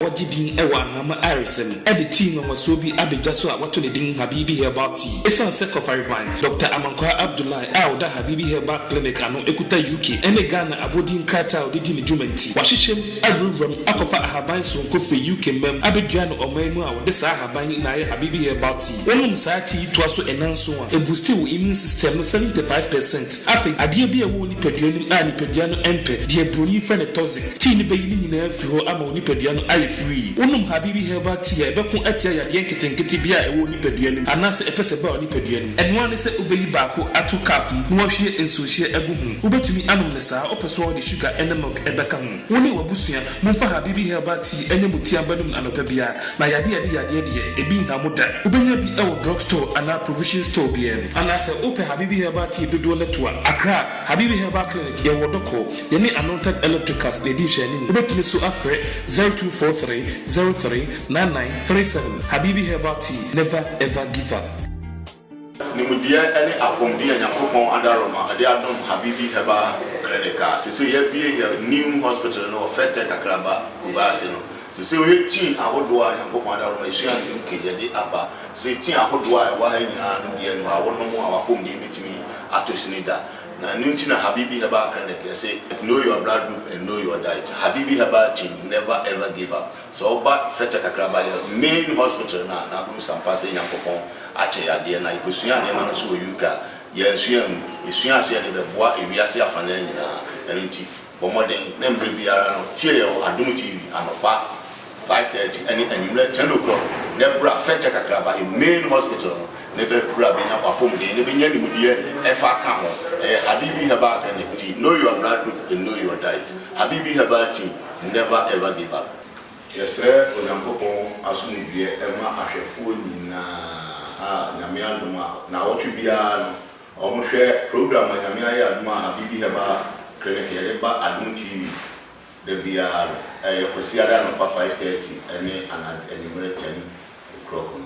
wɔgye din wɔ Ahama ayaresa mu de tii nwanwasoɔ bi abɛdwa so a wɔato ne din Habibi Herbal Tea. Ɛsiane sɛ Kɔfareban Dɔkta Amankwaa Abdullahi a ɔda Habibi Herbal Clinic ano kuta UK ne Ghana abɔdin krataa a ɔde di ne dwuma nti, wɔahyehyɛm awurawuram akɔfa ahaban soronko firi UK mmam abɛdua no ɔman mu a wɔde saa ahaban yi na ayɛ Habibi Herbal Tea. Wonom saa tea yi toa so nnanson a, ɛbusti wo immune system no 75 percent. Afei, adeɛ bi a ɛwɔ wo nipadua no mu a nipadua no mpɛ, deɛ buroni frɛ no toxic, Tea no bɛyi ne nyinaa afi hɔ ama wo nipadua no ayɛ firii. Wonom Habibi Herbal Tea a ɛbɛko atia yadeɛ nketenkete biara a ɛwɔ wo nipadua no mu anaasɛ ɛpɛ sɛ ɛba wo nipadua no mu. Ɛno ara ne sɛ wobɛyi baako ato cup mu na woahwie nsuohyeɛ agu ho. Wobɛtumi anom no saa, wopɛ so a wode sugar ne milk bɛka ho. Wo ne w'abusua momfa Habibi Herbal Tea nyɛ mo tea mba nom no anɔpa biara na yadeɛ a ɛde yadeɛ deɛ, ɛbi nha mo da. Wobɛnya bi wɔ drug store anaa provision store biara mu. Anaasɛ wopɛ Habibi Herbal Tea dodoɔ no to a, Accra, Habibi Herbal Clinic, Yɛwɔ Dɔkɔ, yɛne Anointed Electricals na ɛdi nhwɛanim. Wobɛtumi nso afrɛ 0243 03 9937. Habibi Herbal Tea, never ever give up. Nimdeɛ ne apɔmuden a Nyankopɔn adaroma de adom Habibi Herbal Clinic a sesei yɛabue yɛn new hospital no wɔ Fɛtɛ Kakraba, Kumasi no Te sɛ ɔyɛ tii ahodoɔ a Nyankopɔn ada hɔ ma yɛsua ne nkehyɛde aba, te sɛ tii ahodoɔ a ɛwɔ ha nyinaa no biara nni hɔ a wonom a w'apɔmuden bɛtumi atɔ sini da. Na ɛno nti na Habibi Herbal Clinic yɛse Know your blood group and know your diet. Habibi Herbal team never ever give up. Sɛ woba Fɛkyɛ Kakraba yɛ main hospital no a na wobɛhu sɛ ampa sɛ Nyankopɔn akyɛ yɛ adeɛ. Na yɛkɔsua nneɛma no nso wɔ UK a, yɛansua angu. Yɛsua aseɛ a ɛde bɛboa ewiase afanaa nyinaa. Ɛno nti. Bɔ mmɔden na mmerɛ biara no tie yɛn wɔ Adom TV anɔpa five thirty ɛne anwummerɛ ten o'clock na ɛbra fɛtɛ kakraba in main hospital no na ɛbɛ bra bɛnya w'apɔmuden na bɛnya nimudeɛ ɛfa ka ho ɛyɛ Habibi Herbal Clinic nti know your blood group and know your diet Habibi Herbal Tea never ever give up. Yɛsrɛ Onyankopɔn asomdwoeɛ mma ahwɛfoɔ nyinaa a Nyame adom a nnawɔtwe biara no Wɔhwɛ program Onyame Ayɛ Adom a Habibi Herbal Clinic yɛde ba Adom TV da biara no. Ɛyɛ Kwasiada anɔpa five thirty ne anad anwummere ten o'clock no.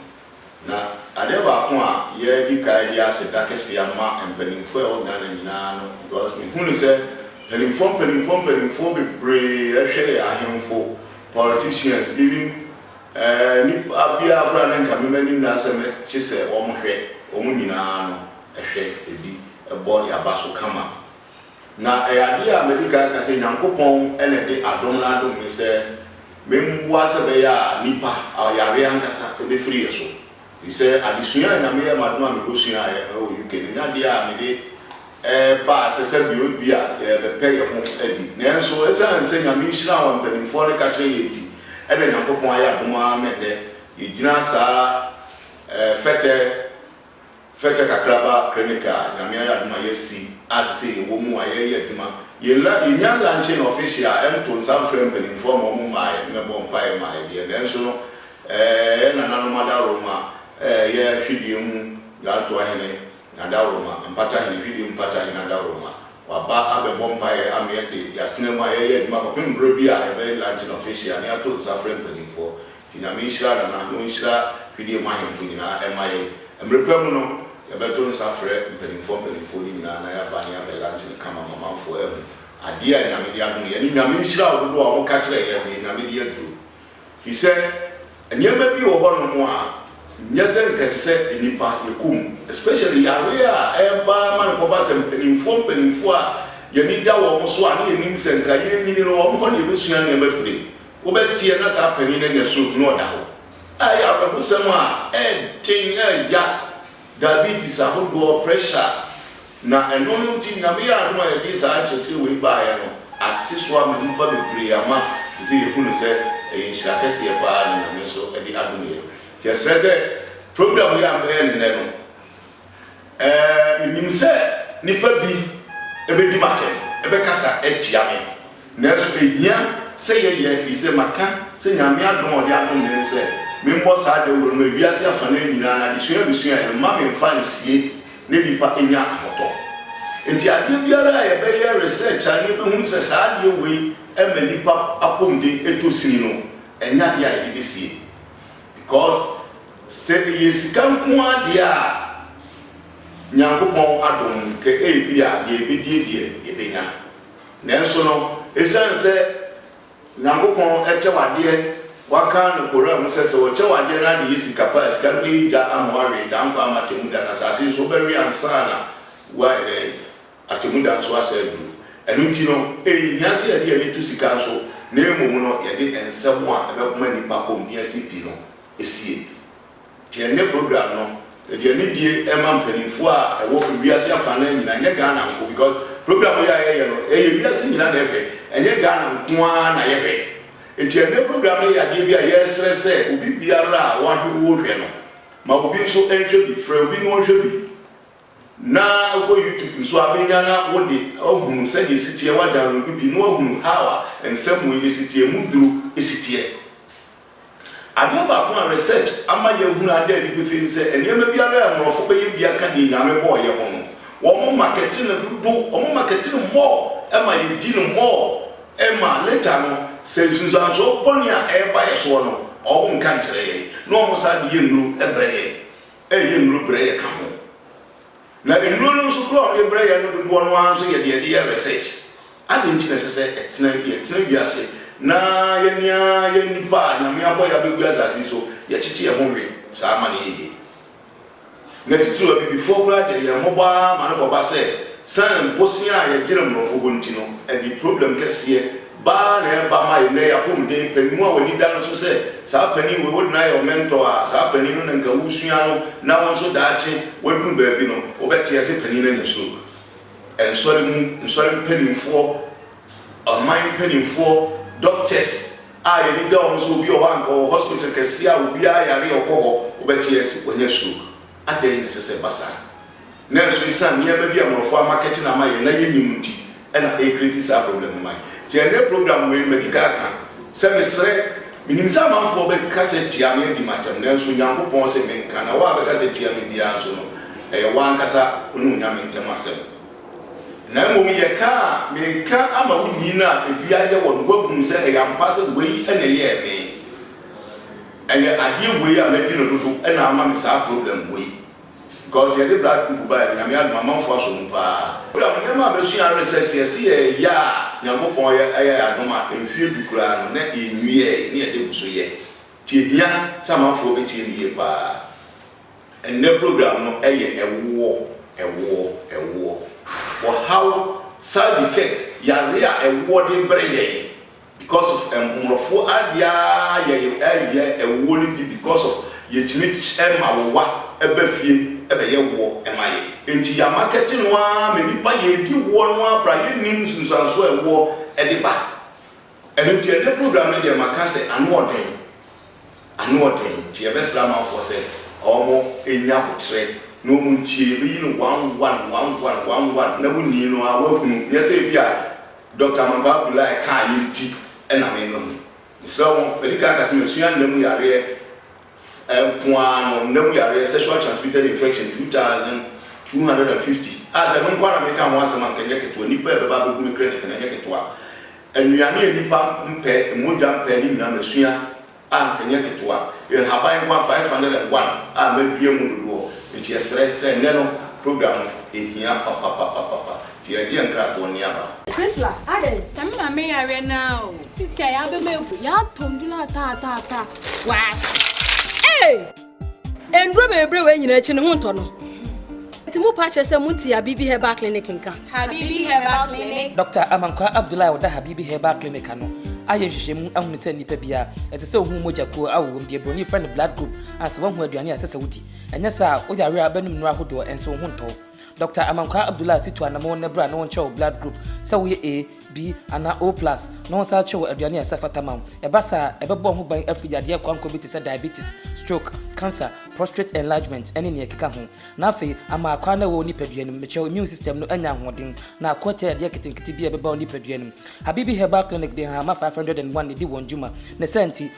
Na adeɛ baako a yɛdi kan de aseda kɛseɛ ama mpanimfoɔ a ɛwɔ Ghana nyinaa no because mehu no sɛ mpanimfoɔ mpanimfoɔ mpanimfoɔ bebree ɛhwɛ yɛ ahemfo, politicians, even Ɛɛ, nnipa biara koraa ne nka me m'ani nna asɛm te sɛ wɔn hwɛ, wɔn nyinaa no hwɛ ebi bɔ yaba so kama. Na ɛyɛ adeɛ a madi kan aka sɛ Nyankopɔn na ɛde adom no adom me sɛ memmoa sɛ ɛbɛyɛ a nnipa, yareɛ ankasa bɛfiri yɛ so. Sɛ adesua a na meyɛ m'adom a mekɔsuaeɛ wɔ UK no nyɛ adeɛ a mede reba a sɛ sɛdeɛ ebi a yɛrebɛpɛ yɛn ho adi. Nanso ɛsiane sɛ Nyame nhyira a wɔn mpanimfoɔ no ka kyerɛ yɛn nti na Nyankopɔn ayɛ adom ara ma ɛnnɛ yɛgyina saa fɛtɛ fɛtɛ kakraba clinic a Nyame ayɛ adom a yɛasi a sesei yɛwɔ mu a yɛreyɛ adwuma. Yɛnya luncheon official nto nsa mfrɛ mpanimfoɔ ma wɔn mmaeɛ mmɛbɔ mpaeɛ mmaeɛ deɛ nanso no Yɛn nananom adaworoma yɛ hwedeɛ mu Grantoa hene n'adaworoma, Mpata hene, hwedeɛ mu Mpata hene adaworoma. Waba abɛbɔ mpaeɛ ama yɛn de yɛatena mu a yɛyɛ adwuma kɔpem berɛ bi a yɛbɛyɛ Lantern Official na yɛato nsa afrɛ mpanimfoɔ. Nti Nyame nhyira Nana na ɔnhyira hwedeɛ mu ahemfo nyinaa ɛma yɛn. Mmerɛ pa mu no yɛbɛto nsa afrɛ mpanimfoɔ mpanimfoɔ no nyinaa na yɛaba na yɛabɛ Lantern kama ma amanfoɔ ahu adeɛ a Nyame de adom yɛn ne Nyame nhyira ahodoɔ a wɔka kyerɛ yɛn no deɛ Nyame de aduro Efisɛ nneɛma bi wɔ hɔnom a nyɛ sɛ nka ɛsɛ sɛ nnipa yɛ komm, especially yare a ɛba ma no kɔba sɛ mpanimfoɔ mpanimfoɔ a yɛn ani da wɔn so a na yɛnim sɛ nka yɛrenyini no wɔn hɔ na yɛbɛsua nneɛma afiri mu. Wobɛteɛ na saa panin no anya stroke na ɔda hɔ a ɛyɛ awerɛhosɛm a ɛyɛ den, ɛyɛ ya. diabetes ahodoɔ, pressure, na ɛno no nti Nyame yɛ adom a yɛde saa nkyerɛkyerɛ wei baeɛ no ate so ama nnipa bebree ama te sɛ yɛhu no sɛ ɛyɛ nhyira kɛseɛ paa na Nyame nso de adom yɛn. Nti yɛsrɛ sɛ program yi a mɛyɛ no nnɛ no ɛɛ menim sɛ nnipa bi bɛdi m'atɛm, bɛkasa atia me, Nanso ehia sɛ yɛyɛ efisɛ maka sɛ Nyame adom a ɔde adom me ne sɛ memmɔ saa dawuro no ma wiase afanan nyinaa na adesua a mesuae no mma memfa nsie na nnipa nya ahotɔ. Enti adeɛ biara a yɛbɛyɛ research a na yɛbɛhunu sɛ saa adeɛ wei ma nnipa apɔmuden tɔ sini no ɛnyɛ adeɛ a yɛde bɛsie because sɛ ɛyɛ sika nko ara deɛ a Nyankopɔn adom kɛ ebia deɛ yɛbɛdie deɛ yɛbɛnya. Nanso no, esiane sɛ Nyankopɔn kyɛ wo adeɛ, w'aka no Koran mu sɛ, sɛ wɔkyɛ wo adeɛ na ade yɛ sika paa a, sika no bɛyɛ gya ama wo awe daa nkwa ama atɛmmu da no asase nso wobɛwe ansa na woayɛ dɛn? atɛmmu da nso asan aduru. Ɛno nti no, ɛnhia sɛ yɛde yɛn ani to sika so na mmom no yɛde nsɛm a ɛbɛkoma nnipa kɔm ne asi pi no sie. Deɛ ne program no deɛ ne die ɛma mpaninfoɔ a ɛwɔ wiase afanaa nyina ɛnyɛ Ghana nko because program yi a yɛyɛ no ɛyɛ wiase nyina na ɛhwɛ ɛnyɛ Ghana nko ara na yɛhwɛ nti ɛnɛ program no yɛ adeɛ bi a yɛsrɛ sɛ obi biara a wahwɛ wohwɛ no ma obi nso ɛnhwɛ bi frɛ obi na ɔnhwɛ bi na ɛkɔ YouTube nso abɛnya na wode ahunu sɛdeɛ ɛsiteɛ wa download bi na wahunu how a nsɛm wei ɛsiteɛ mu duro ɛsiteɛ Adeɛ baako a research ama yɛahunu ada adi pefee ne sɛ nneɛma biara a mmorɔfo bɛyɛ bia ka deɛ Nyame bɔɔ yɛ ho no. Wɔn markete no dodo, wɔn markete no more ma yɛdi no more ma later no sɛ nsunsuansoɔ bɔne a ɛreba yɛ soɔ no wɔn nka nkyerɛ yɛn na wɔn san de yɛ nnuro brɛ yɛn, ɛyɛ nnuro brɛ yɛ ka ho. Na nnuro no nso koro a wɔde brɛ yɛn no dodoɔ no ara nso yɛ deɛ yɛde yɛ research. Adɛn nti na ɛsɛ sɛ ɛtena yɛtena wiase na yɛne ara yɛn nnipa a Nyame abɔ yɛn abɛgu asase yi so yɛkyekye yɛn ho we saa ma no yɛ yie? Na titiriw abibifoɔ koraa deɛ yɛn mmɔbɔ ara ma no kɔba sɛ sane bosea a yɛgyina mmorɔfo hɔ nti no ɛde problem kɛseɛ Baa na ɛba ma yɛn nnɛ yi apɔmuden panin mu a w'ani da no so sɛ saa panin wei wode no ayɛ wo mentor a, saa panin no na nka woresua no na wo nso daakye woaduru baabi no wobɛte ase panin no anya stroke. Nsɔre mu, nsɔre mpanimfoɔ, ɔman mpanimfoɔ, doctors a yɛn ani da wɔn so, obi wɔ hɔ a nka ɔwɔ hospital kɛseɛ a obiara yare a ɔkɔ hɔ wobɛte ase wanya stroke. Adɛn na ɛsɛ sɛ ɛba saa? Nanso esiane nneɛma bi a mmorɔfo amakɛte no ama yɛn na yennim nti na ɛrekreti saa problem no ma yɛn. Nti ɛnnɛ program wei no madi kan aka sɛ mesrɛ, menim sɛ amanfoɔ bɛkasa tia me adi m'atɛm nanso Nyankopɔn se menka na wo a bɛkasa tia me biara nso no ɛyɛ wo ankasa wo ne Onyame ntam asɛm na mmom yɛ ka a meka ama wo nyin no a efi ayɛ wɔ no woahunu sɛ ɛyɛ ampa sɛ wei na ɛyɛɛ me. Ɛnɛ adeɛ wei a madi no dodo na ama me saa problem wei because yɛde blood group baeɛ no Nyame adom amanfoɔ asɔ mu paa. Madam, nneɛma a masua ara ne sɛ, sɛ yɛse yɛreyɛ a Nyankopɔn ayɛ yɛn adom a, mfeɛ du koraa no na yɛnwiae na yɛde gu so yɛ. Nti ɛhia sɛ amanfoɔ bɛtie no yie paa. Ɛnnɛ program no yɛ ɛwoɔ, ɛwoɔ, ɛwoɔ. Ɔhaw, side effects, yareɛ a ɛwoɔ de brɛ yɛn. Because of mmorɔfo adeɛ aa yɛ yɛ ɛwoɔ no bi because of yɛtumi ma wo wa ba fie bɛyɛ woɔ ma yɛ nti ya markɛte no aa ma nipa yɛdi woɔ no aa bra yɛnnim nsunsuansoɔ ɛwoɔ de ba ɛno nti ɛnɛ program no deɛ maka sɛ ano ɔden. Anoɔden nti yɛbɛsrɛ amanfoɔ sɛ ɔmo nya aboterɛ na ɔmo ntie, yɛbɛyi no one one, one one, one one na wo nii no ara wahunu, nyɛ sɛ ebia Doctor Amankwaa Abdullahi kaeɛ nti na me no ho. Mesrɛ wo, madi kan aka sɛ masua nna mu yareɛ nko ara no, nna mu yareɛ, sexual transmitted infection, two thousand two hundred and fifty a sɛ me nko ara na meka ho asɛm a nka ɛnyɛ ketewa, nnipa a ɛbɛba abɛgu me kreneke no ɛnyɛ ketewa. Nnuane a nnipa mpɛ, mogya mpɛ ne nyamesuaa a ɛnyɛ ketewa, nhaban nkwa 501 a madua mu dodoɔ nti yɛsrɛ sɛ ɛnnɛ no program no ɛhia papapapapa nti yɛregye yɛn nkratoɔ nne aba. Priscilla, adɛn? Sɛ me maame yareɛ no ara o. Sisi a yɛabɛma agu, yɛatɔ nnuro no ataataa, wɔahye. Ei! Nnuro bebree wei nyinaa akyi no ho ntɔ no. Nti mo pa kyerɛ sɛ mo nti Habibi Herbal Clinic nka. Habibi Herbal Clinic. Dɔkta Amankwaa Abdullahi a ɔda Habibi Herbal Clinic ano ayɛ nhwehwɛmu ahunu sɛ nnipa biara ɛsɛ sɛ ohu mogya kuo a ɔwom, deɛ broni frɛ no blood group, a sɛ woahu aduane a ɛsɛ sɛ wodi. Ɛnyɛ saa a, wo yare a bɛnom nnuro ahodoɔ nso wo ho ntɔ wo. Dɔkta Amankwaa Abdullah si to anamon nɛ bra ne wo nkyerɛ wo blood group sɛ wo yɛ A, B anaa O plus na wo san kyerɛ wo aduane a ɛsɛ fata ma wo. Ɛba saa a, ɛbɛbɔ wo ho ban afiri yadeɛ koankoa bi te sɛ diabetes, stroke, cancer, prostate enlargement ɛne nea ɛkeka ho. Na afei ama akwaa no a ɛwɔ wo nipadua no mu, mekyerɛ wo immune system no anya ahoɔden na ako atia yadeɛ nketenkete biara a ɛbɛba wo nipadua no mu. Habibi Herbal Clinic de nhahamma 501 na ɛdi wɔn dwuma. Ne saa nti,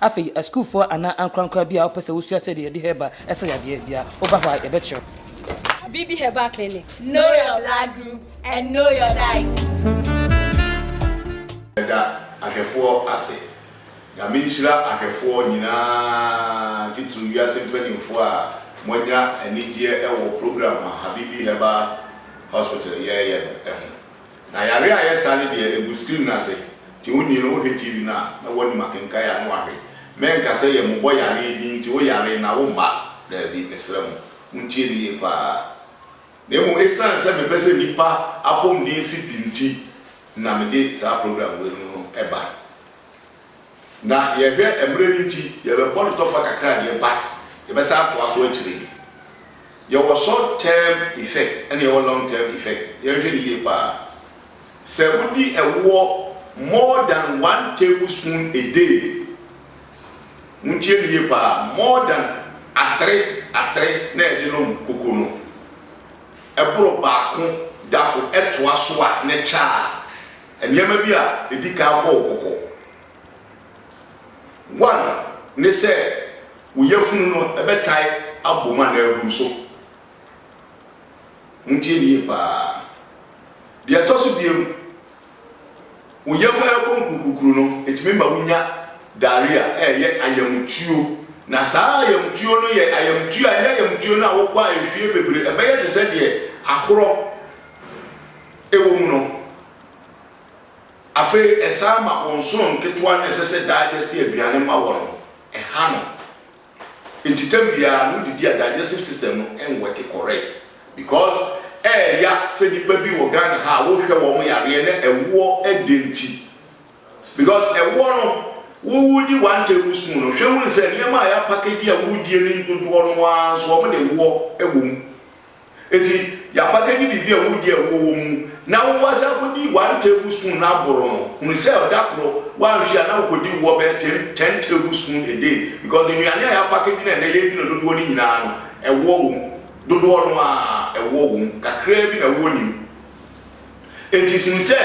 Afei, asukuufoɔ anaa ankorankora biara a wɔpɛ sɛ wɔsua sɛdeɛ yɛde herbal sa yadeɛ biara, woba hɔ a yɛbɛkyerɛ wo. Abibi Herbal Clinic, Know your blood group and know your diet. Meda ahwɛfoɔ ase. Nyame nhyira ahwɛfoɔ nyinaa, titiriw wiase mpanimfoɔ a moanya anigyeɛ wɔ program a Habibi Herbal Hospital yɛɛyɛ no ho. Na yare a ɛyɛ saa no deɛ ɛgu screen no ase nti onii no wohwɛ TV no a na woanim akenkan a na wahwe. Mɛnka sɛ yɛ mmobɔ yareɛ bi nti wo yare na wo mma, daabi, mesrɛ mo montie no yie paa. Na mmom ɛsiane sɛ mepɛ sɛ nnipa apɔmuden si pi nti na mede saa program wei nom no ba. Na yɛhwɛ mmerɛ no nti yɛbɛbɔ no tɔfa kakra deɛ but yɛbɛsan atoa so akyire yi. Yɛwɔ short term effect ɛna yɛwɔ long term effect. Yɛnhwɛ no yie paa. Sɛ wodi ɛwoɔ more than one table spoon a day, montie no yie paa, more than atere atere na yɛde nom koko no, ɛboro baako da ho ɛtoa so a na ɛkyɛ a Nneɛma bi a edi kan abɔ wo kɔkɔ. One ne sɛ wo yafunu no bɛtae abom anaa aburu so. Montie me yie paa. Deɛ ɛtɔ so biam, wo yam ɛrekɔ nkurukurukuru no, ɛtumi ma wonya diarrhea, ɛyɛ ayamtuo. Na saa ayamtuo no yɛ ayamtuo a ɛnyɛ ayamtuo no a wokɔ a ɛhwie bebree, ɛbɛyɛ te sɛ deɛ ahorɔ. Ɛwɔ mu no, afei ɛsan ma wɔn sono nketewa no a ɛsɛ sɛ digestive aduane ma wɔn no, ɛha no. Nti tam biara no wodidi a digestive system no nwɔke correct because ɛɛya sɛ nnipa bi wɔ Ghana ha a wohwɛ wɔn yareɛ na ɛwoɔ ɛdɛ nti because ɛwoɔ no wo wodi one table spoon no hwɛ hunu sɛ nneɛma a yɛapakagyi a wodie no dodoɔ no ara nso wɔn de woɔ ɛwɔ mu. Ntsi y'abakɛgye biribi a wodzi a ewuo wɔ mu na wo mba san kodii one table spoon na abor no, hun sɛ da kor wɔannhwe a na wokodi wɔ bɛyɛ ten ten table spoon a day because nnuane a y'abakɛgye na ndɛ y'edzi no dodoɔ no nyinaa no ɛwoɔ wɔ mu, dodoɔ no ara ɛwoɔ wɔ mu, kakraa bi na ewuo nim. Enti hu sɛ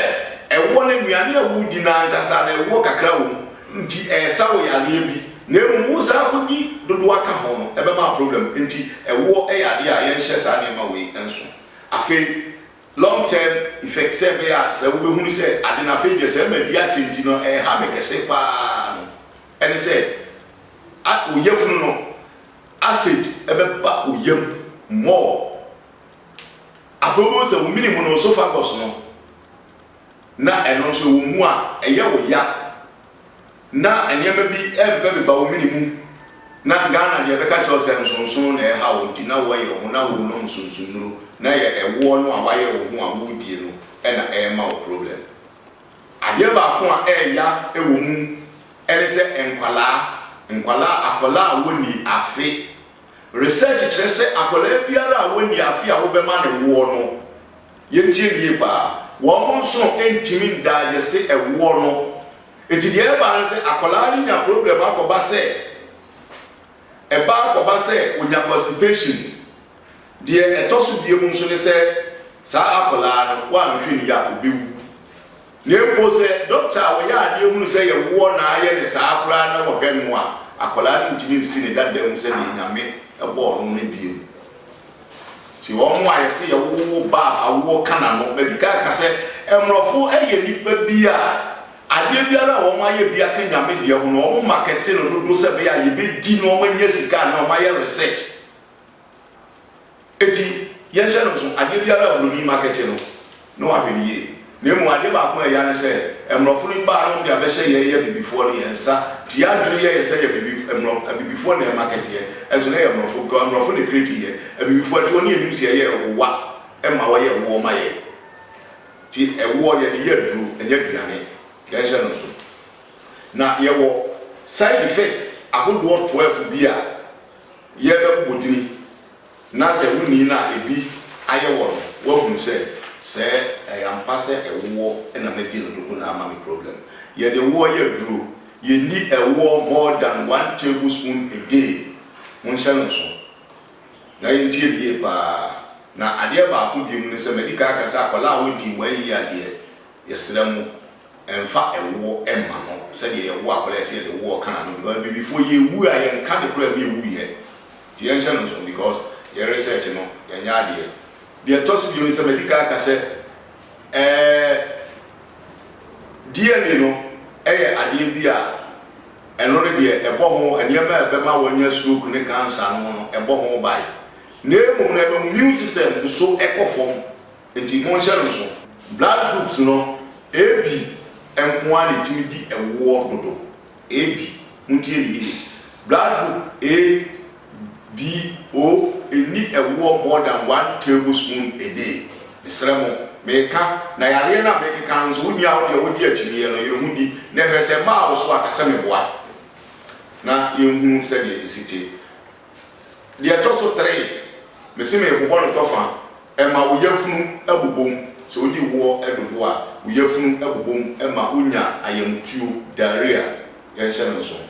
ɛwoɔ no, nnuane a woredi no ankasa no, ɛwoɔ kakra wɔ mu, enti ɛresa wo yareɛ bi, na mmom woresan akɔdi dodoɔ aka ho no, ɛbɛma problem. Enti ɛwoɔ yɛ adeɛ a yɛnhyɛ saa nneɛma wei nso. Afei, long term effect, sɛ ɛbɛyɛ a sɛ wobɛhunu sɛ ade no afei deɛ sɛ madi akyɛ nti no ɛreha me kɛse pa ara no, ɛne sɛ a wo yafunu no, acid bɛba wo yam more. Afei wobɛhu sɛ wo mini mu no, oesophagus no, na ɛno nso ɛwɔ mu a ɛyɛ wo ya na nneɛma bi ɛrebɛbeba wo mini mu na Ghana deɛ bɛka kyerɛ wo sɛ nsonsono na ɛreha wo nti na woyere wo ho na worenom nsonsonnuro na ɛyɛ ɛwoɔ no a woayere wo ho a woredie no na ɛrema wo problem. Adeɛ baako a ɛreya wɔ mu ne sɛ nkwadaa, nkwadaa, akwadaa a wɔnnii afe. Research kyerɛ sɛ akwadaa biara a wɔnni afe a wobɛma no ɛwoɔ no, yɛntie no yie paa, wɔn nsono ntumi ndigeste ɛwoɔ no. Nti deɛ ɛba ara ne sɛ akwadaa no nya problem akɔba sɛ, ɛba akɔba sɛ ɔnya constipation. Deɛ ɛtɔ so biom nso ne sɛ saa akwadaa no, woanhwɛ no yie a ɔbɛwu. Na mpo sɛ dɔkta a ɔyɛ adeɛ hunu sɛ yɛwoɔ na ayɛ no saa koraa na wɔhwɛ no a, akwadaa no ntumi nsi ne dada mu sɛdeɛ Nyame bɔɔ no no bio. Nti wɔn a yɛse yɛwowo ba a awoɔ ka n'ano. Madi kan aka sɛ mmorɔfo yɛ nnipa bi a adeɛ biara a wɔn ayɛ bi aka Nyame deɛ ho no, wɔn makɛte no dodo sɛ ɛbɛyɛ a yɛbɛdi na wɔn anya sika anaa wɔn ayɛ research. Enti, yɛnhyɛ no nso, adeɛ biara a buroni makɛte no, na wahwɛ no yie. Na mmom, adeɛ baako a ɛya ne sɛ, mmorɔfo no baa nom de abɛhyɛ yɛn yɛ abibifoɔ no, yɛn nsa te yɛn adwene yɛ yɛn sɛ yɛ abibif, mmorɔ, abibifoɔ na yɛn makɛteɛ, nso na ɛyɛ mmorɔfo, because mmorɔfo na ɛcreate yɛn, abibifoɔ ɛte hɔ ne yɛnnim sɛ yɛyɛ ɛwowa, ɛma wɔyɛ ɛwoɔ ma yɛn. Nti, ɛwoɔ yɛde yɛ aduro, ɛnyɛ aduane. Yɛnhyɛ no nso. Na yɛwɔ side effect ahodoɔ twelve bi a yɛbɛbobɔ dini Na sɛ wonni no a, ebi ayɛ wɔn no, wɔahu sɛ, sɛ ɛyɛ ampa sɛ ɛwoɔ na madi no dodo na ama me problem. Yɛde ɛwoɔ yɛ aduro. Yɛnni ɛwoɔ more than one table spoon a day. Monhyɛ no nso. Na yɛntie no yie pa ara. Na adeɛ baako bio mu ne sɛ, madi kan aka sɛ akwadaa a ɔnnii one year deɛ, Yɛsrɛ mo mfa ɛwoɔ mma no sɛdeɛ yɛwo akwadaa yɛsɛ yɛde woɔ ka no because abibifoɔ yɛwu a yɛnka ne koraa bi ɛwuiɛ nti yɛnhyɛ no nso because yɛ research no yɛnyɛ adeɛ deɛ ɛtɔ so bio ne sɛ madi kan aka sɛ ɛɛ DNA no ɛyɛ adeɛ bi a ɛno no deɛ ɛbɔ ho nneɛma a ɛbɛma wɔnya stroke ne cancer no ho no ɛbɔ ho ban na mmom no ɛma mu immune system nso ɛkɔ fam Enti monhyɛ no nsow. Blood groups no, AB nko ara na ɛtumi di ɛwoɔ dodo. AB, montie me yie, blood group A, B, O nni ɛwoɔ more than one tablespoon a day. Mesrɛ mo, meka, na yareɛ no a mekeka no nso, wonni a wodeɛ wogye akyinyeɛ no, yere ho di na ɛhwɛ sɛ mmaa wo so a, ka sɛ meboa na yɛnhunu sɛdeɛ ɛsi te. Deɛ ɛtɔ so tere, mese merebobɔ no tɔfa, ɛma wo yafunu bobom. Sɛ wodi woɔ dodoɔ a, wo yafunu bobom ma wonya ayamtuo, diarrhea. Yɛnhyɛ no nsow.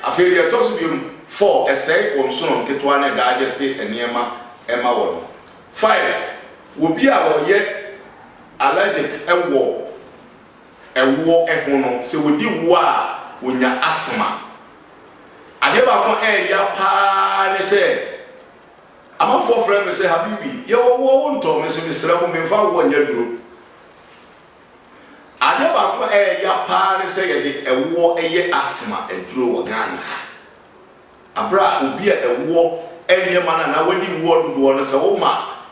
Afei deɛ ɛtɔ so biom, four, ɛsɛe wo nsono nketewa ne diageste nneɛma ma wɔ no. Five, wobi a wɔyɛ allergic wɔ. ɛwoɔ ho no, sɛ wɔdi woɔ a, wɔnya asthma. Adeɛ baako a ɛya pa ara ne sɛ, amanfoɔ frɛ me sɛ, Habibi, yɛwɔ woɔ, wontɔ? Me nso mesrɛ mo, memfa woɔ nyɛ aduro. Adeɛ baako a ɛya pa ara ne sɛ yɛde ɛwoɔ yɛ asthma aduro wɔ Ghana ha. Berɛ a obi a ɛwoɔ nyɛ ma no anaa wadi woɔ dodoɔ no, sɛ woma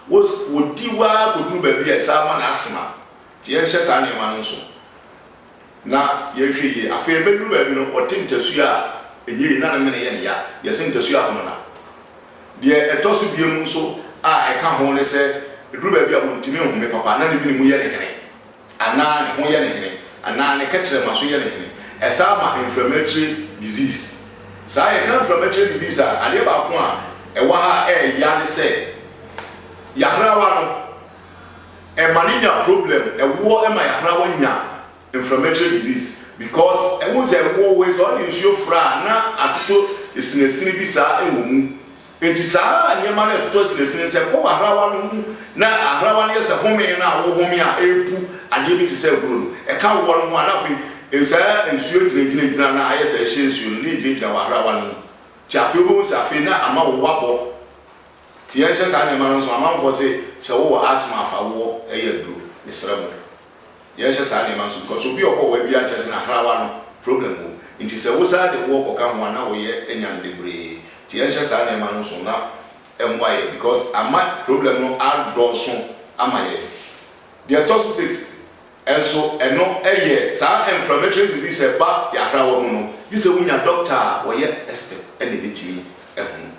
wɔdi wo ara kɔduru baabi a, saa ma no asthma. Nti yɛnhyɛ saa nneɛma no nsow na yɛnhwɛ yie. Afei ɛbɛduru baabi no, ɔte ntasu a ɛnyɛ yie na ne mene yɛ no ya, yɛ sɛ ntasu ahonana. Deɛ ɛtɔ so biom nso a ɛka ho ne sɛ, ɛduru baabi a ɔntumi nhome papa na ne mene mu yɛ no hene, anaa ne ho yɛ no hene, anaa ne kɛkyerɛma so yɛ no hene. Ɛsaa ma mframakyire disease. Saa yɛka mframakyire disease a, adeɛ baako a ɛwɔ ha a ɛyɛ ya ne sɛ, yahrawa no, ɛma no nya problem ɛwoɔ ɛma yahrawa nya inflammatory disease because wohu sɛ ɛwoɔ wei sɛ ɔde nsuo fra a na atotɔ asinasini bi saa ɛwɔ mu nti saa nneɛma no ɛtotɔ asinasini sɛ kɔ wahrawa no mu na ahrawa no yɛ sɛ home no a wohome a ɛrepu adeɛ bi te sɛ aburo no ɛka woɔ no ho a na afei nsaa nsuo gyinagyina gyina na ayɛ sɛ ɛhyɛ nsuo no na ɛgyinagyina wahrawa no mu nti afei wobɛhu sɛ afei na ama woɔ abɔ Tie nkyɛ saa nneɛma no nso amanfoɔ se sɛ wowɔ asthma afa woɔ ɛyɛ aduro mesrɛ mo yɛnhyɛ saa nneɛma nso because obi ɔhɔ ɔwɔ adua nkyɛ sɛ na hrawa no problem wɔ mu nti sɛ wosaa de woɔ kɔka ho a na woyɛ anya no bebree nti yɛnhyɛ saa nneɛma no nso na ɛmmoa yɛn because ama problem no adɔɔso ama yɛn deɛ ɛtɔ so six nso ɛno ɛyɛ saa inflammatory disease ɛba yɛ ahrawa mu no gye sɛ wonya doctor a ɔyɛ expert ɛna ɛbɛtumi ahunu.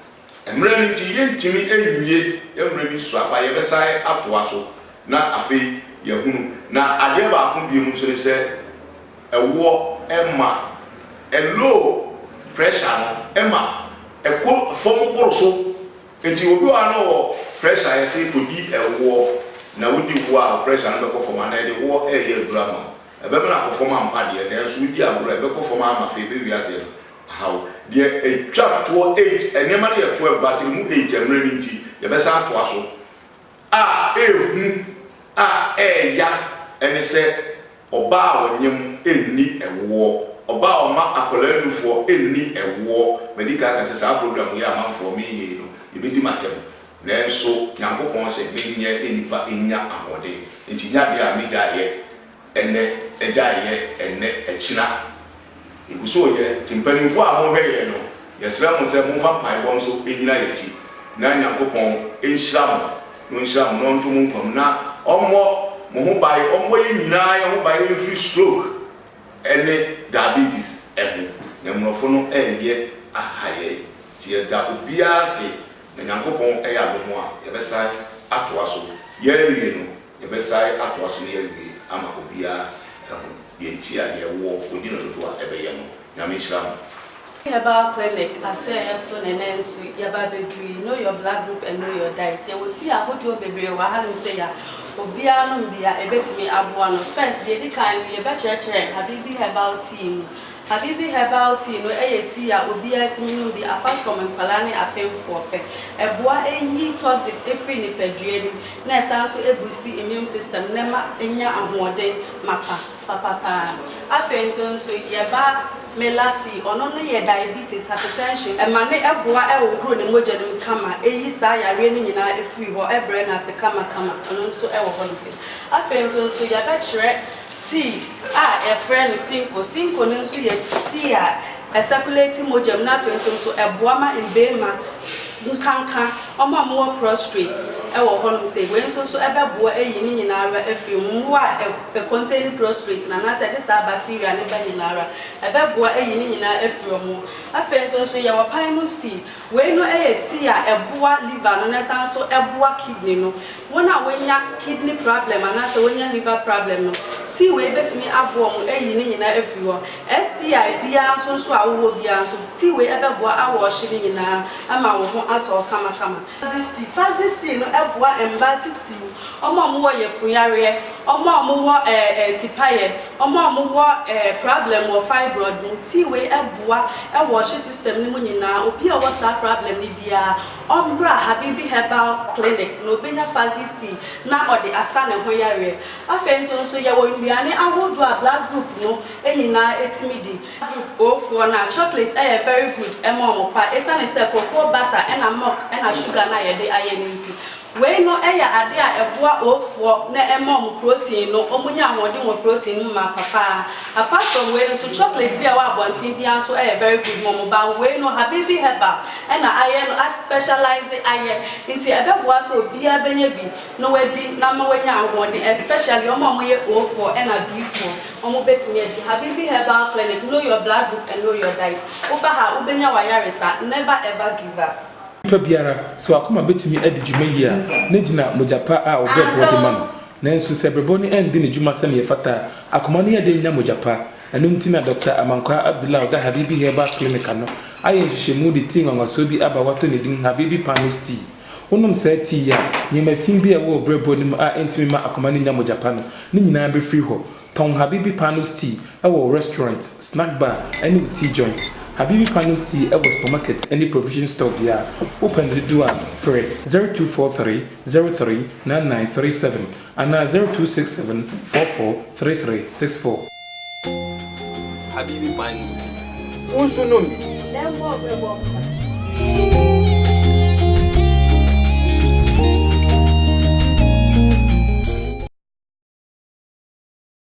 Mmrɛ no nti yɛntumi nwie yɛn mmrɛ bi so aba, yɛbɛsan atoa so na afei yɛahunu. Na adeɛ baako bio nso ne sɛ ɛwoɔ ɛma low pressure no ɛma ɛkɔ fam boro so. Nti obi wɔ ha na ɔwɔ pressure a yɛse kɔdi ɛwoɔ na wodi woɔ a wo pressure no bɛkɔ fam anaa yɛde woɔ ɛɛyɛ aduro ama wo ɛbɛmene akɔ fam ampa deɛ nanso wodi agorɔ a ɛbɛkɔ fam ama afei ɛbɛwie aseɛ no haw. Deɛ ɛtwa toɔ eight, nneɛma no yɛ toɔ ɛba tiri mu eight ɛmmerɛ no nti yɛbɛsan atoa so, a ɛhu a ɛɛya ɛne sɛ ɔbaa a ɔnyem ɛnni ɛwoɔ, ɔbaa a ɔma akwadaa nufoɔ ɛnni ɛwoɔ, madi kan aka sɛ saa program yi a amanfoɔ menyɛ yi no yɛbɛdi me atɛm nanso Nyankopɔn sɛ menyɛ ne nipa nnya ahoɔden nti nyɛ adeɛ a megyaeɛ. Ɛnnɛ, agya reyɛ ɛnnɛ, akyira yɛgu so reyɛ. Nti mpaninfoɔ a morehwɛ yɛn no, yɛsrɛ mo sɛ momfa mpaebɔ nso nnyina yɛn akyi na Nyankopɔn nhyira mo, na ɔnhyira mo na ɔnto mo nkwa mu na ɔmmɔ mo ho ban, ɔmmɔ yɛn nyinaa yɛn ho ban mfiri stroke ɛne diabetes ɛho. Na mmorɔfo no reyɛ aha yɛn, nti yɛda obiara ase, na Nyankopɔn ɛyɛ adom a yɛbɛsan atoa so. Yɛrewie no, Yɛbɛsae atoa so na yɛawie ama obiara ahu deɛ nti a deɛ woɔ ɔdi no dodo a ɛbɛyɛ no. Nyame nhyira mo. Herbal clinic asoɛeɛ so na ɛnɛ nso yɛba abɛduru yi, know your blood group and know your diet. Yɛwɔ tea ahodoɔ bebree wɔ ha nom sɛ yɛ a obiara nom bi a ɛbɛtumi aboa no. First, deɛ ɛdi kan no yɛbɛkyerɛkyerɛ Habibi herbal tea mu Habibi herbal tea no yɛ tea a obiara tumi nom bi apart from nkwadaa ne apemfoɔ pɛ. Ɛboa yi toxics firi nipadua mu na ɛsan nso boosti immune system na ɛma nya ahoɔden mapa papa pa ara. Afei nso nso yɛ ba Mela tea, ɔno no yɛ diabetes, hypertension, ɛma no boa hohoro ne mogya no mu kama, ɛyi saa yareɛ no nyinaa firi hɔ, ɛbrɛ no ase kama kama, ɛno nso wɔ hɔ no sei. Afei nso nso yɛbɛkyerɛ. Seed a yɛfrɛ no Synco. Synco no nso yɛ tea a ɛsɛkulati mogya mu na afei nso nso ɛboa ma mmarima nkanka wɔn a wɔwɔ prostrate wɔ hɔnom sei. Wei nso nso ɛbɛboa ayi ne nyinaa ara afiri mu. Mmoa a ɛcontain prostrate no anaasɛ ɛde saa bacteria no ba nyinaa ara, ɛbɛboa ayi ne nyinaa afiri wɔn. Afei nso nso yɛwɔ pine seed. Wei no yɛ tea a ɛboa liver no na ɛsan nso boa kidney no. Wɔn a wɔanya kidney problem anaasɛ wɔanya liver problem no, tea wei bɛtumi aboa wɔn ayi ne nyinaa afiri hɔ. STI biara nso nso a wowɔ biara nso, tea wei bɛboa awɔɔhye ne nyinaa ama wo ho atɔ wo kamakama. Faz's tea, Faz's tea no boa mmaa titiriw, wɔn a wɔwɔ yafunyareɛ, wɔn a wɔwɔ ɛɛ ɛɛ tipayɛ. Wɔn a wɔn wɔ eh prablɛm wɔ fibroid mu, tea wei ɛboa ɛwɔ ɔhye system no mu nyinaa, obi a ɔwɔ saa prablɛm no biara ɔmbra Habibi herbal clinic na obenya Fazzy's tea na ɔde asa ne ho yareɛ. Afei nso nso yɛwɔ nnuane ahodoɔ a blood group no nyinaa ɛtumi di. Group O foɔ no a, chocolate ɛyɛ very good ɛma wɔn paa, ɛsiane sɛ cocoa butter ɛna milk ɛna sugar no a yɛde ayɛ no nti, Wei no yɛ ade a ɛboa ooffoɔ na ɛma wɔn protein no, wɔn nya ahoɔden wɔ protein no mu ma papa. Apart from wei no nso chocolate bi a ɛwɔ abɔnten biara nso yɛ very good ma wɔn, but wei no Habibi herbal na ayɛ no, a specialise ayɛ, nti ɛbɛboa sɛ obiara bɛnya bi na wadi na ama wanya ahoɔden, especially wɔn a wɔyɛ ooffoɔ na B-foɔ, wɔn bɛtumi adi Habibi herbal clinic, know your blood group and know your diet, woba ha a wobɛnya w'ayaresa, never ever give up. Onipa biara, sɛ w'akoma betumi adi dwuma yiye a, na egyina mogya pa a ɔbrɛ boɔ de ma no. Nanso, sɛ berɛbo no andi ne dwuma sɛnea ɛfata a, akoma no yɛ den nya mogya pa. Ɛno nti na Dɔkta Amankwah Abdullah a ɔda Habibi Herbal Clinic ano ayɛ nhwehwɛmu de tii nwanwasoɔ bi aba a wɔato ne din Habibi Panos Tea. Wonom saa tea yi a, nneɛma fi bi a ɛwɔ wo berɛboɔ no mu a ɛntumi mma akoma no nnya mogya pa no, ne nyinaa befiri hɔ. Tɔn Habibi Panos Tea wɔ wo restaurant, snack bar ne wo tea joint. Habibi Panos Tea wɔ supermarket ne provision store biara. Wopɛ no dodoɔ a, frɛ 0243039937 anaa 0267443364. Habibi Panos Tea, wo nso nom bi! Lembor bɛbɔ mpae.